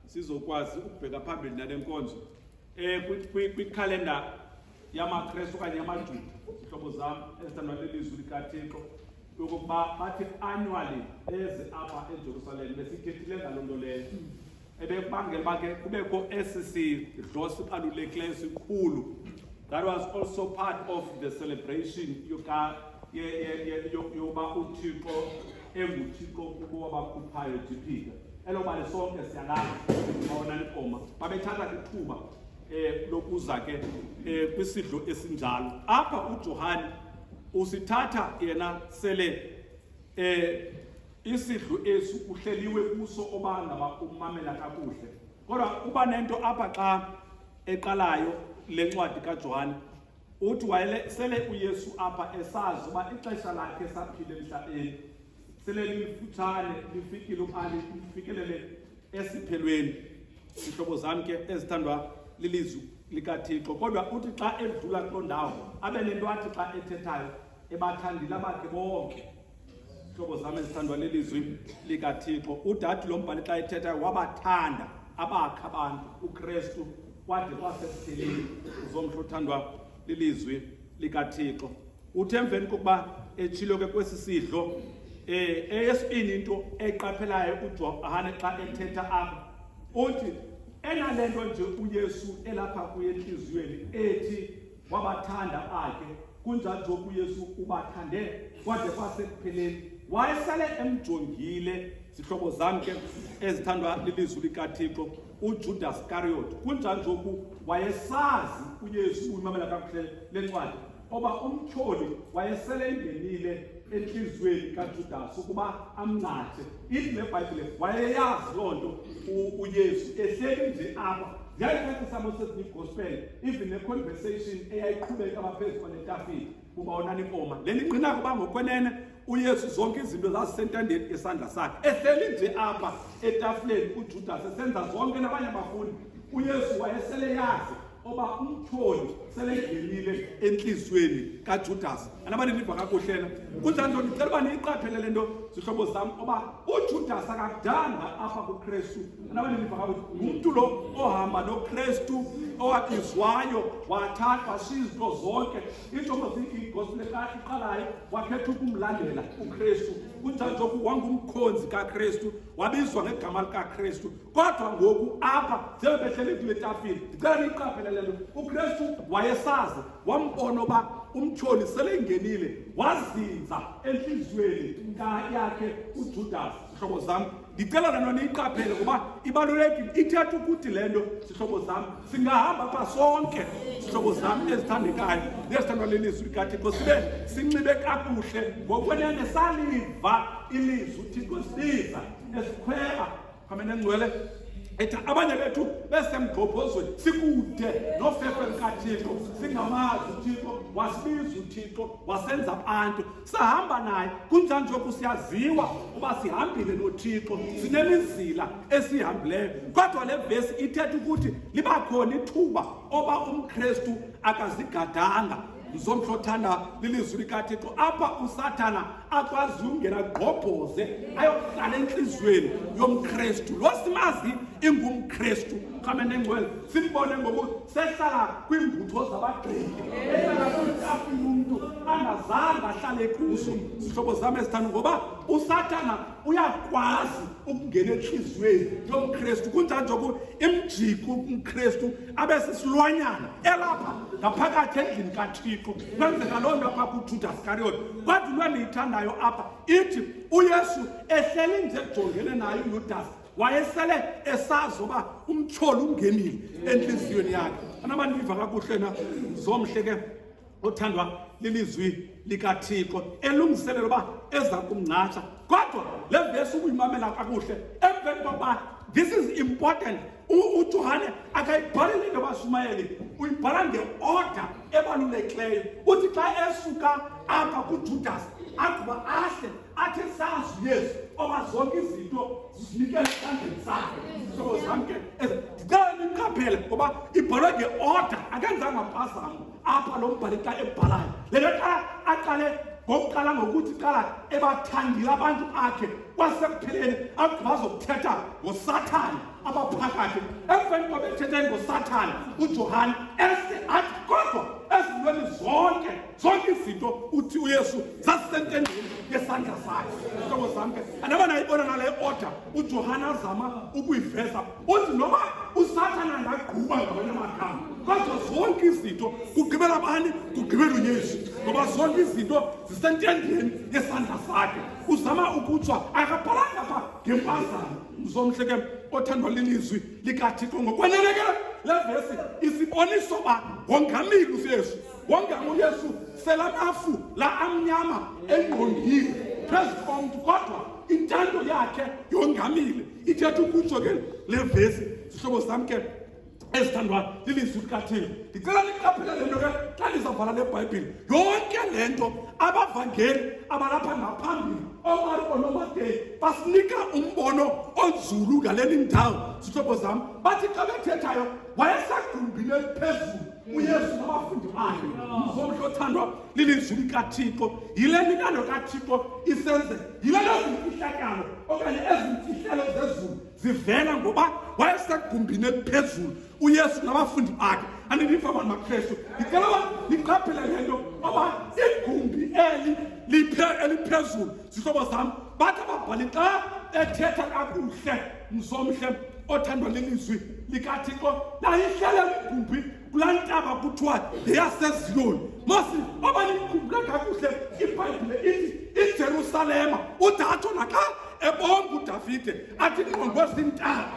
sizokwazi ukubheka phambili nale nkonzo um kwikhalenda yamakrestu okanye yamajuda zihlobo zam ezithandwa lelizwi likathixo yokokuba bathi annually eze apha ejerusalem besithethile ngaloo nto leyo ebekubangela uba ke kubekho esi sidlo sibalulekileyo sikhulu that was also part of the celebration yokuba uthixo enguthixo kubo wabakhuphayo jiphika elo bali sonke siyalazi babona likoma babethatha ithuba um eh, lokuza ke um kwisidlo esinjalo apha ujohane usithatha yena sele um isidlo esi uhleliwe kuso obanga bakumamela kakuhle kodwa kuba nento apha xa eqalayo le ncwadi kaJohane uthi wayele sele uyesu apha esazi uba ixesha lakhe saphile emhlabeni sele lifutshane lifikile uqali lifikelele esiphelweni zihlobo zam ke ezithandwa lilizwi likathixo kodwa uthi xa edlula kuloo ndawo abe nento athi xa ethethayo ebathandile abakhe bonke Hlobo zami ezithandwa lelizwi likaThixo, udadi lo mbhali xa ethetha wabathanda abakha abantu uKristu kwade kwasekupheleni uzomhla uthandwa lilizwi likaThixo. Uthe emveni kokuba etshilo ke kwesi sidlo eh eyesibini into eqaphelayo uJohane xa ethetha apha uthi enalento nje uYesu elapha kuye enhliziyweni ethi wabathanda bakhe kunjalo nje uyesu ubathande kwade kwasekupheleni wayesale emjongile zihlobo zam ke ezithandwa lilizwi likathixo ujudas kariot kunjalo nje oku wayesazi uyesu uyimamela kakuhle le ncwadi oba umtyholi wayesele ingenile entliziyweni kajudas ukuba amncathe ithi le bhayibhile wayeyazi loo nto uyesu ehleli nje apha ziyayicacisa mosesni gospel even neconversation eyayiqhubeka abaphezu kwanetafile kuba onani inkoma le ningqina kuba ngokwenene uyesu zonke izinto zazisentandeni esandla sakhe ehleli nje apha etafuleni ujudas esenza zonke nabanye abafundi uyesu wayesele yazi oba umtyholi selengenile entliziyweni kajudasi anabani ndiva kakuhle na kunjani nto ndicela uba niyiqaphele le nto zihlobo zam oba ujudasi akadanga apha kukrestu anabani ndiva kakuhle ngumntu lo ohamba nokrestu owabizwayo wathathwa sizinto zonke injongo igospel iqalayo wakhetha ukumlandela ukrestu kunjani nje wangumkhonzi kakrestu wabizwa ngegama likakrestu Kodwa ngoku apha njengoko behlele into yetafile ndicela niyiqaphele le nto ukristu wayesazi wambona uba umtyholi seleyingenile wazinza entliziyweni yakhe ujudas zihlobo zam ndicela le nto niyiqaphele ngoba ibalulekile ithetha ukuthi le nto zihlobo zam singahamba pha sonke zihlobo zam ezithandekayo nezithandwa lelizwi likathixo sibe sinxibe kakuhle ngokwenene saliva ilizwi uthixo sibiza esikhwela Amene ngcwele ethi abanye bethu besemgqobhozweni sikude nofefe likathixo singamazi uthixo wasibiza uthixo wasenza abantu sahamba naye kunjani njoku siyaziwa uba sihambile nothixo sinemizila esiyihambileyo kodwa le vesi ithetha ukuthi liba khona ithuba oba umkristu akazigadanga ndizomhla othanda lilizwi likathixo apha usathana akwazi ungena gqobhoze ayohlala entliziyweni yomkristu lo simazi ingumkristu rhame nengcwele simbone ngoku sehlala kwiimbutho zabagqili ehlala kwiitafile umntu angazange ahlale kuso zihlobo zam ezithanda ngoba usathana uyakwazi ukungena entliziyweni yomkristu kunjani njengoku imjiko umkristu abe sisilwanyana elapha ngaphakathi endlini kathixo kwenzeka loo nto apha kujuda sikariyote kodwa into endiyithandayo apha ithi uyesu ehleli nje ejongene naye uyudasi wayesele esazi uba umtyholi ungenile entliziyweni yakhe anabandiva kakuhle na zomhle ke othandwa lilizwi likaThixo elungiselela uba eza kumngcatsha kodwa le vesi ukuyimamela kakuhle emveni kokuba this is important ujohane akayibhaleli into bashumayeli uyibhala ngeorder ebalulekileyo uthi xa esuka apha kujudas agquba ahle athi sazi yesu oba zonke izinto zizinikele esandleni sakhe hlobo zamke ndicela niqaphele ngoba ibhalwe ngeorder akenzanga mpazamo apha lo mbhali xa ebhalayo le nto xa aqale ngokuqala ngokuthi qala ebathandile abantu akhe kwasekupheleni akubazokuthetha ngosathane abaphakathi emveni kwabethetheni ngosathane ujohane ese athi kodwa ezintweni zonke zonke izinto uthi uyesu zasisentendeni yesandla sakhe hlobo zam ke andaba nayibona nale order ujohane azama ukuyiveza uthi noba usathana angagquba ngamanye amagama kodwa zonke izinto kugqibela bani kugqibela uyesu ngoba zonke izinto zisentendeni yesandla sakhe uzama ukutswa akabhalanga pha ngempazamo mzomhle ke othandwa lilizwi likathixo ngokwaneleke le vesi isiboniso uba wongamile uyesu wongama uyesu selamafu la amnyama engqongile phezu komntu kodwa intando yakhe yongamile ithetha ukutsho ke le vesi zihlobo sam ke ezithandwayo lilizwi likathixo ndicela niqaphele le nto ke xa ndizawubhala le bhayibhile yonke le nto abavangeli abalapha ngaphambili oomarko nomateyi basinika umbono onzulu ngaleli ndawo zihlobo zam bathi xa bethethayo wayesegumbini eliphezulu uyesu nabafundi bakhe mzomntu othandwa lilizwi likaThixo, yile mintando kaThixo isenzeka, yile lezimfihlakalo okanye ezimfihlelo zezulu zivela ngoba wayesegumbini eliphezulu uYesu nabafundi bakhe andiniva abantu bakristu ndicela uba niqaphele le nto oba igumbi eli eliphezulu zihlobo zam bathi ababhali xa ethetha kakuhle mzomhle othandwa lilizwi likathixo nayihlele ligumbi kulaa ntaba kuthiwa yeyaseziyoni masi oba nikhumbula kakuhle ibhayibhile ithi ijerusalema udatsho naxa ebonga udavide athi ingqondo ezintaba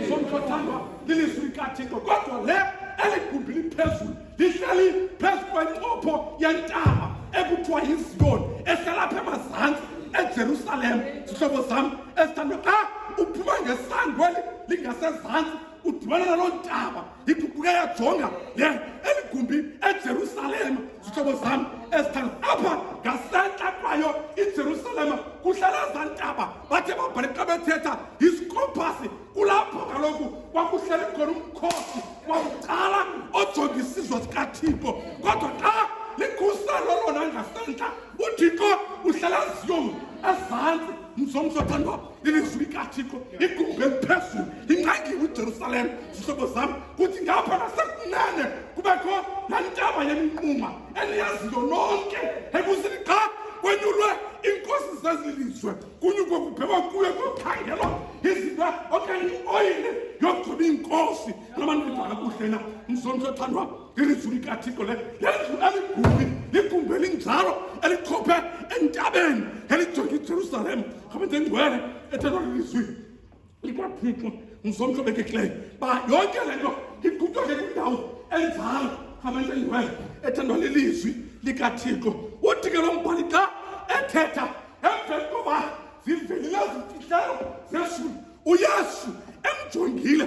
somhlothandwa lilizwi likathixo kodwa le eli gumbi liphezulu lihleli phezu kwencopho yentaba ekuthiwa yiziyoni ehlala apha emazantsi ejerusalema zihlobo zam ezithandwa xa uphuma ngesangweli lingasezantsi udibana naloo ntaba yiguquke yajonga le eli gumbi ejerusalema zihlobo zam ezithanda apha ngasentla kwayo ijerusalema kuhlala za ntaba bathe babhale xa bethetha yisikophasi kulapho kaloku kwakuhleli khona umkhosi wakuqala ojonga isizwe sikathixo kodwa xa likhuselo lona ngasentla uthixo uhlala ziyong ezantsi mzomzothandwa ilizwi likathixo igube phezulu ingqangiwe ujerusalem zihlobo zam kuthi ngapha nasekunene kubekho laa ntaba yeminquma eliyaziyo lonke ekuzini qha kwenyulwe iinkosi zezilizwe kunyukwe kubhekwa kuyo kukhangelwa izinto okanye ioyile yogcoba iinkosi namandiva kakuhle na msonto othandwa ngilivule ikathixo le yendlu aliguli ligumbi elinjalo elikhophe entabeni elijonge ijerusalem ngabenze ingcwele ethetha lilizwi likwathixo ngizomntu obekekileyo ba yonke le nto igutyole kwindawo enjalo ngabenze ingcwele ethandwa lilizwi likathixo uthi ke lo mbhali xa ethetha emveni koba zivelile zimfihlelo zeshumi uyesu emjongile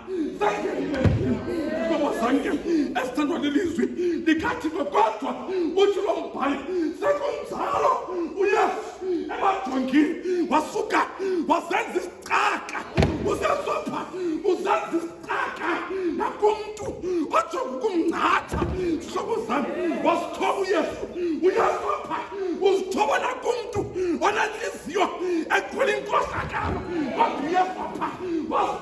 Baba sange esithandwa lelizwi ndikathi kodwa uthi lo mbhali sekunjalo uyesu emajongini wasuka wazenza isicaka usesopha uzenza isicaka nakumntu ojonga ukumngcatha zihlobo zam wasithoba uyesu uyesopha uzithoba nakumntu onentliziyo ekhwela inkohlakalo kodwa uyesopha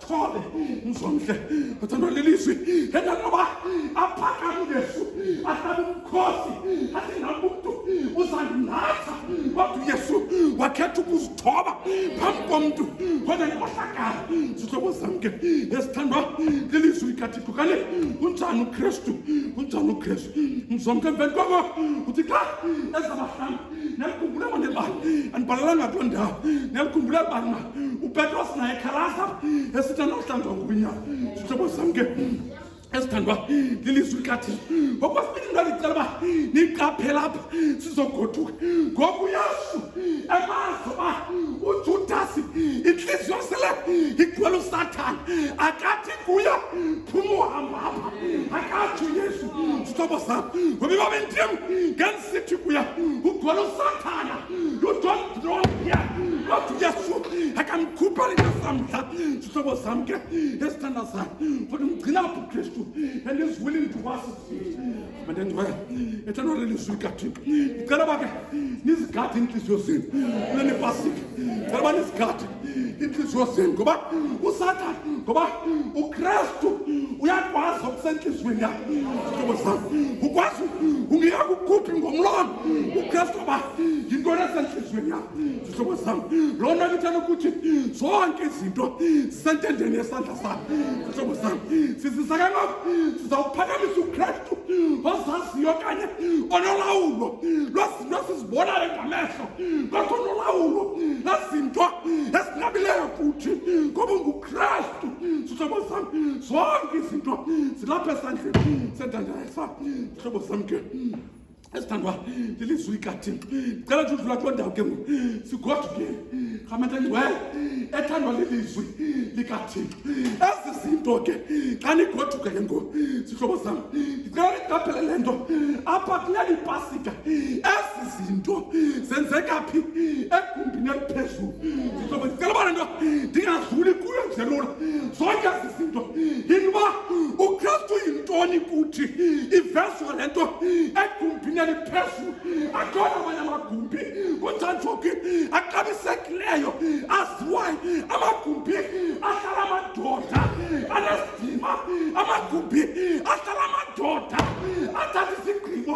Pole, mzonke uthandwa lelizwi endantoba aphakame uyesu ahlabe umkhosi athi nam umntu uzandinatha wathi uyesu wakhetha ukuzithoba phambi komntu wena nkohlakala zihlobo zam ke esithandwa lelizwi likathixo kale unjani ukristu unjani ukristu mzonke emveni koko uthi xa ezabahlanga nelku bula mande ba an balala nga tonda nelku bula ba ma u petros na e karasa esita no tando ngunya tutobo samge esithandwa lilizwi likathi ngokwesibini ndalicela uba niqaphela apha sizogoduka ngoku yesu emazi uba ujudasi intliziyo sele igcwele usathana akathi kuye phuma uhamba apha akatsho yesu zihlobo zam ngoba ibabendim ngenza situkuya ugwala usathana ujohn droya wathi uyesu akamkhupha linasamdla sihlobo sam ke esithanda sam futhi mgcina apho ukristu and is willing to was mandendiwe ethanda ore lizwi kathixo ndicela uba ke nizigade iintliziyo zenu kule nipasika ndicela uba nizigade inhliziyo yosini ngoba usathane ngoba ukristu uyakwazi okusentliziyweni yakho zihlobo zam ukwazi ungiya kukhuphi ngomlomo ukristu oba yintoni esentliziyweni yakho zihlobo zam loo nto kithela ukuthi zonke izinto zisentendeni yesandla sam zihlobo zam sizisa ke ngoku sizawuphakamisa ukristu ozaziyo okanye onolawulo nasizibonane ngamehlo ngakho nolawulo nazinto esinabileyo futhi ngoba ungukristu zihlobo zam zonke izinto zilapha esandleni sendandaesa zihlobo zam ke esithandwa lilizwikathini cela nje udlula kuloo ndawo ke ngoku sigodukile Khamenta nje wena ethandwa lilizwi likaThixo. Ezi zinto ke xa nigoduke ke ngoku sihlobo sam. Ndicela niqaphele le nto apha kule ipasika. Ezi zinto zenzeka phi egumbini eliphezulu. Sihlobo ndicela uba le nto ndingazuli kuyo nje lula. Zonke ezi zinto yinto uba uKristu yintoni kuthi ivezwa le nto egumbini eliphezulu. akhona amanye amagumbi kuthanjophi axabisekileyo aziwayo amagumbi ahlala amadoda anesidima amagumbi ahlala amadoda athatha isigqibo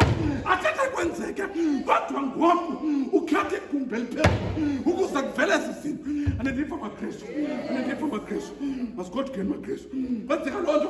athethe kwenzeke kodwa ngoku ukhetha igumbi eliphezulu ukuze kuvele ezi zinto anendifa makresu anendifa makresu masigodukeni makresu kwenzeka loo nto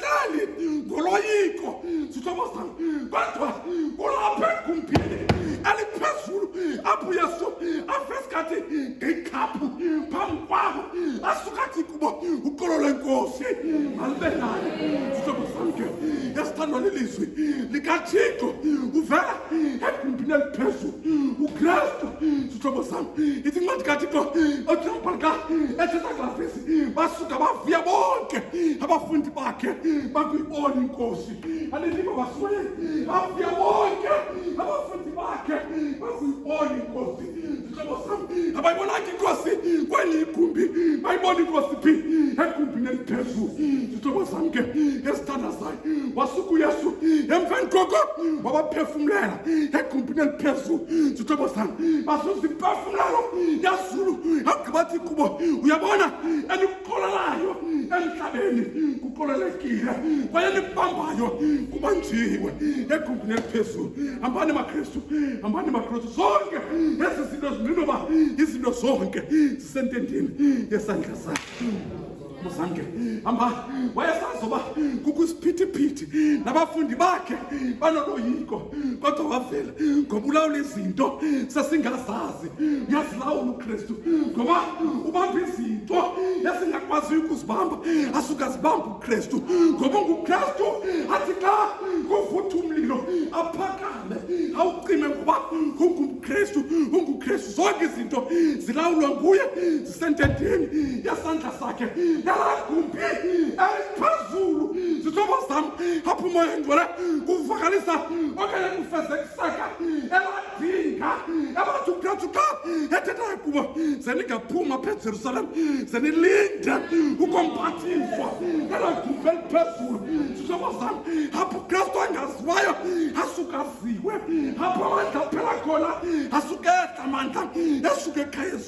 Dali, ngoloyiko, zithomasan, kodwa ulapha egumbini eliphezulu apho Yesu afesikhathi ngekhaphu phambi kwabo asukathi kubo uqolo lenkosi malibe naye zithomasan ke yasithandwa lilizwi likathixo uvela egumbini eliphezulu ukristu zithomasan ithi incwadi kathixo othilambhalika ethetha ngavesi basuka bavuya bonke abafundi bakhe bakuyibona inkosi aliliba basuke bavuya bonke abafundi bakhe bakuyibona inkosi zihlobo sam abayibonanga inkosi kweli igumbi bayibona inkosi phi egumbini eliphezulu zihlobo sam ke esithandazayo wasuka uyesu emveni koko wabaphefumlela egumbini eliphezulu zihlobo sam basuza imphefumlelo Zulu yagqibathi kubo uyabona elimkolelayo emhlabeni kukolelekile kwaye libambayo kubanjiwe egumbini eliphezulu hambani makristu hambani makristu zonke ezi zinto zilinoba izinto zonke zisentendeni yesandla sakhe Muzange hamba wayesazi uba kukho isiphithiphithi nabafundi bakhe banoloyiko kodwa wavela ngoba ulawula izinto sesingazazi uyazilawula ukristu ngoba ubamba izinto esingakwaziyo ukuzibamba asuke azibamba ukristu ngoba ungukristu athi xa kuvutha umlilo aphakame awucime ngoba ungumkristu ungukristu zonke izinto zilawulwa nguye sentendeni yasandla sakhe yalagumbi eliphezulu zithoba zam apho umoya engcwele kuvakalisa okanye kufeze kusaka eladinga ebathi ukuthathuka ethethayo kubo ze ningaphuma phe jerusalem ze nilinde ukompathiswa elagumbi eliphezulu zithoba zam apho ukristu angaziwayo asukaziwe apho amandla aphela khona asukehla mandla esuke ekhayezi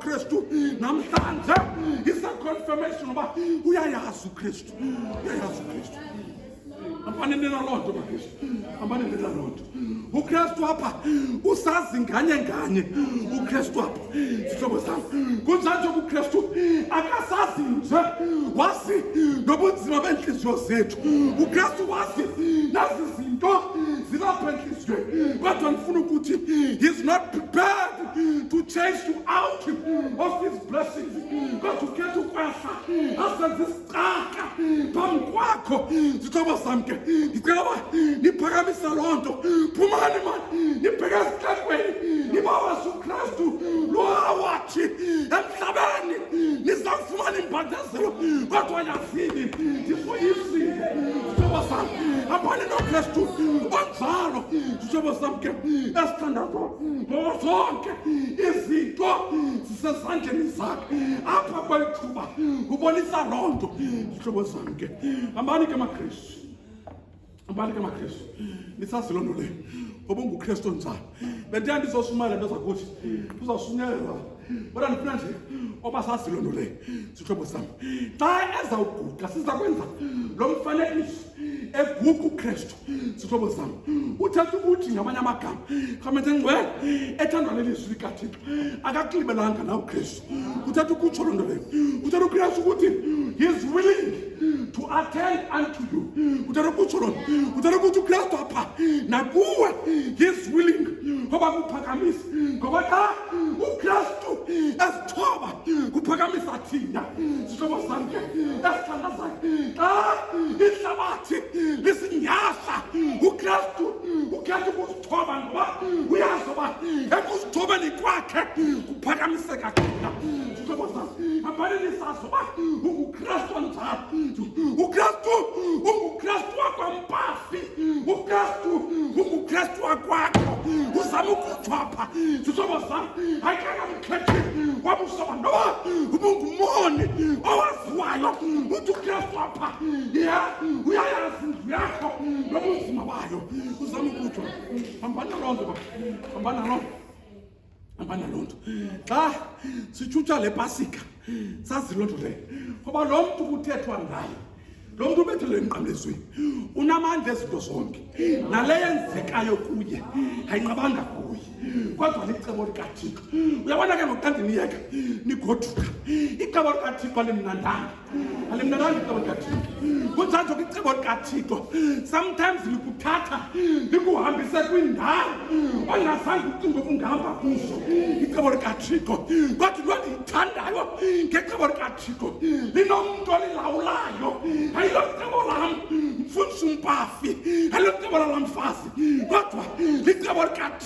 Kristu namhlanje isa confirmation uba uyayazi uKristu uyayazi uKristu hambani nina loo nto bakristu hambani nina loo nto ukristu apha usazi nganye nganye ukristu apha Sihlobo sami kunjani njengoba uKristu akasazi nje wazi nobunzima beentliziyo zethu. UKristu wazi nazi zinto zilapha entliziyweni kodwa ndifuna ukuthi he's not prepared to change you out of his blessings kodwa ukhetha ukwehla asenze Caca phambi kwakho zithoba sam ke ndicela uba niphakamisa loo nto phumani mani nibheke ezihlahlweni nibawa jesu kristu lowawathi emhlabeni nizawufumana imbandezelo kodwa yazini ndisoyisile zithoba sam abani nokristu onjalo zithoba sam ke esithandazo ngozonke izinto zisezandleni zakhe apha kweli thuba ubonisa loo nto zihlobo zam ke hambani ke makristu hambani ke makristu nisazi loo nto leyo ngoba ungukristu njani bendiya ndizoshumayela nto zakuthi uzawushunyelelwa kodwa ndifuna nje oba sazi loo nto leyo zihlobo zam xa ezawuguqa siza kwenza lo mfanekiso eguqa ukristu zihlobo zam uthatha ukuthi ngamanye amagama rhamente ngcwele ethandwa lelizwi likathixo akakulibelanga na ukristu uthatha ukutsho loo nto leyo uthatha ukristu ukuthi he's willing to attend unto you uthatha ukutsho loo nto uthatha ukuthi ukristu apha nakuwe he's willing ngoba kuphakamisa ngoba xa ukristu thoba kuphakamisa thina zihlobo zakhe esithandwa zakhe xa ihlabathi lisinyasa ukristu ukhetha ukusithoba ngoba uyazi uba ekusithobeni kwakhe kuphakamiseka thina zihlobo zakhe abhaleni sazi uba ungukristu njani ukristu ungukristu wakwampasa uKristu unguKristu wakwakho uzama ukuthwapha zihlobo zam ayikangamkhethi wabusoba noba ubungumoni owaziwayo uthi uKristu apha ya uyayazi indlu yakho nobunzima bayo uzama ukuthwa hambana loo nto hambana loo abana loo nto xa sitshutsha le pasika sazi loo nto leyo ngoba lo mntu kuthethwa ngayo lo mntu ubethelwe emnqamlezweni unamandla ezinto zonke nale yenzekayo kuye ayinqabanga kuye kodwa licebo likathixo uyabona ke ngoku xa ndiniyeka nigoduka icebo likathixo alimnandanga alimnananga icebo likathixo kunjalo ke icebo likathixo sometimes likuthatha likuhambise kwindawo ongazange ucinga ukungahamba kuzo icebo likathixo kodwa loo ndiyithandayo ngecebo likathixo linomntu olilawulayo ayilo cebo lam mfundisa umpafi ayilo cebo lalamfazi kodwa licebo likathixo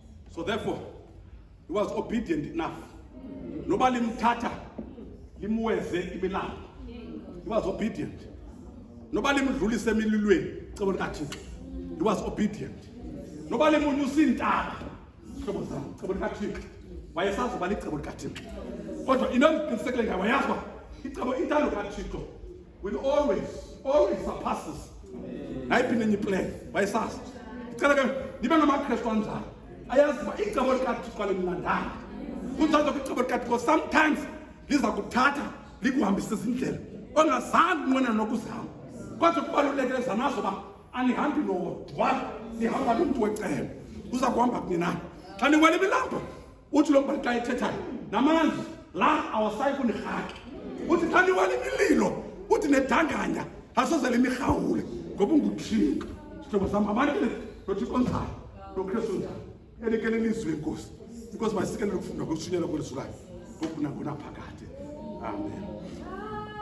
So therefore he was obedient enough noba limthatha limweze imilambo he was obedient noba limdlulise emililweni cebo likathixo he was obedient noba limunyusa iintaba hlobo zam cebo likathixo wayesazi uba licebo likathixo kodwa into endiqinisekile ngayo wayazi uba icebo intando kathixo will always always surpass us nayiphinde enye iplan wayesasa ndicela ke ndibe ngamakrestu anjalo ayazi uba icebo likathixo alimlandanga kunjalo kwicebo likathixo sometimes liza kuthatha likuhambise izindlela ongazange unqwena nokuzihamba kodwa kubalulekile zanazo uba anihambi nodwa nihamba nomntu wecebo uza kuhamba kunye nani xa niwela imilambo uthi lo mbhali xa ethethayo namanzi la awasayi kunirhaki uthi xa niwale imililo uthi nedanganya asozele imirhawule ngoba unguthixo sihlobo sam abalele nothixo onjalo nokristu onjalo elikele lizwi lenkosi inkosi masikelele ukufunda kokushunyelwa kwelizwi layo ngokunakunaphakade amen